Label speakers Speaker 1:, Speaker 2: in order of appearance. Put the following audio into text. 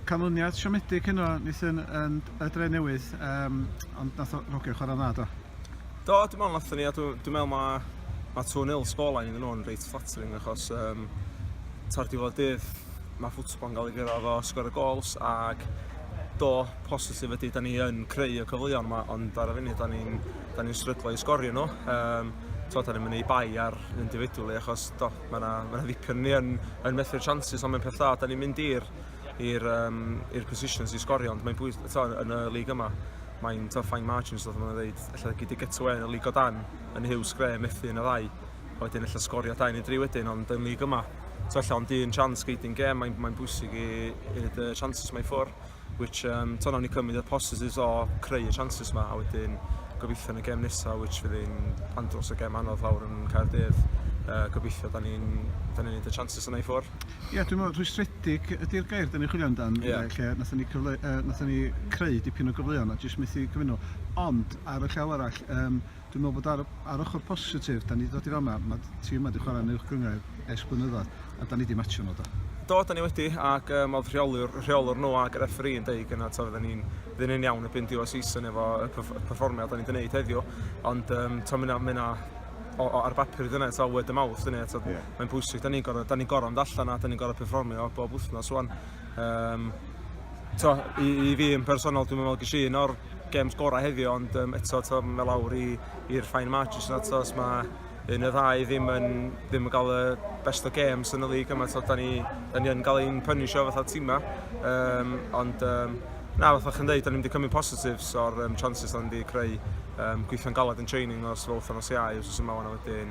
Speaker 1: canlyniad siomedig heno Nathan yn y dre newydd, um, ond nath o rogio chwarae dda do? Do, dwi'n meddwl
Speaker 2: nath ni, a dwi'n meddwl mae ma 2-0 sgorlain iddyn nhw'n reit flattering achos um, ta'r diwedd dydd mae ffwtbol yn cael ei gyrraedd o sgor y gols ac do, positif ydy, da ni yn creu y cyfleon yma, ond ar y funud da ni'n ni, ni sryglo i sgorio nhw. Um, to, da ni'n mynd i bai ar un difedwli achos do, Mae yna ma ddipyn ni yn, yn methu'r chances, ond mae'n peth da. Da ni'n mynd i'r i'r um, i'r positions i sgorio, ond mae'n bwys to, yn y lig yma. Mae'n to fine margins, ddoth yma'n dweud, efallai gyd i gytw yn y lig o dan, yn hiw sgre, methu yn y ddau. A wedyn efallai sgorio dau neu dri wedyn, ond yn lig yma, to efallai ond un chance gyd i'n gem, mae'n mae bwysig i, i y chances mae ffwrdd. which um, to nawn ni cymryd y positives o creu y chances yma a wedyn gobeithio yn y gem nesaf which fydd yn andros o gem anodd fawr yn Caerdydd uh, gobeithio da ni'n da ni'n neud y chances yna i ffwr. Ie, yeah, dwi'n meddwl
Speaker 1: rhwystredig ydy'r gair da ni'n chwilio amdan, yeah. lle nath ni, cyfle, uh, nath ni creu dipyn o gyfleon a jyst methu cyfynol. Ond, ar y llaw arall, um, dwi'n meddwl bod ar, ar ochr positif, da ni wedi dod i fama, mae tîm yma wedi chwarae yn uwch gynghrair es blynyddoedd, a da ni wedi matio nhw do. Do, da ni wedi,
Speaker 2: ac um, oedd rheolwr, rheolwr nhw ac yr effri yn deud gyna, to, fydden ni'n ddyn yn iawn y byn diwedd season efo y performiad da ni'n gwneud heddiw, ond um, to, mynd mynd o, o, ar bapur i dyna, to, word y mawth, dyna, to, yeah. mae'n bwysig, da ni'n gorau, da ni'n gorau mynd allan a da ni'n gorau performio bob wythnos, wan, Um, to, i, i fi yn personol, dwi'n meddwl gysi un o'r games gorau heddiw, ond um, eto to, mae lawr i'r fine margins yna, to, os mae un y ddau ddim yn, ddim yn cael y best o games yn y lig yma, to, da ni, da ni yn cael ein punisho fatha tîma, um, ond um, na, fatha chi'n dweud, da ni wedi cymryd positives o'r um, chances da ni wedi creu um, gweithio'n galed yn training os fel wythnos iau, os yma wan wedyn,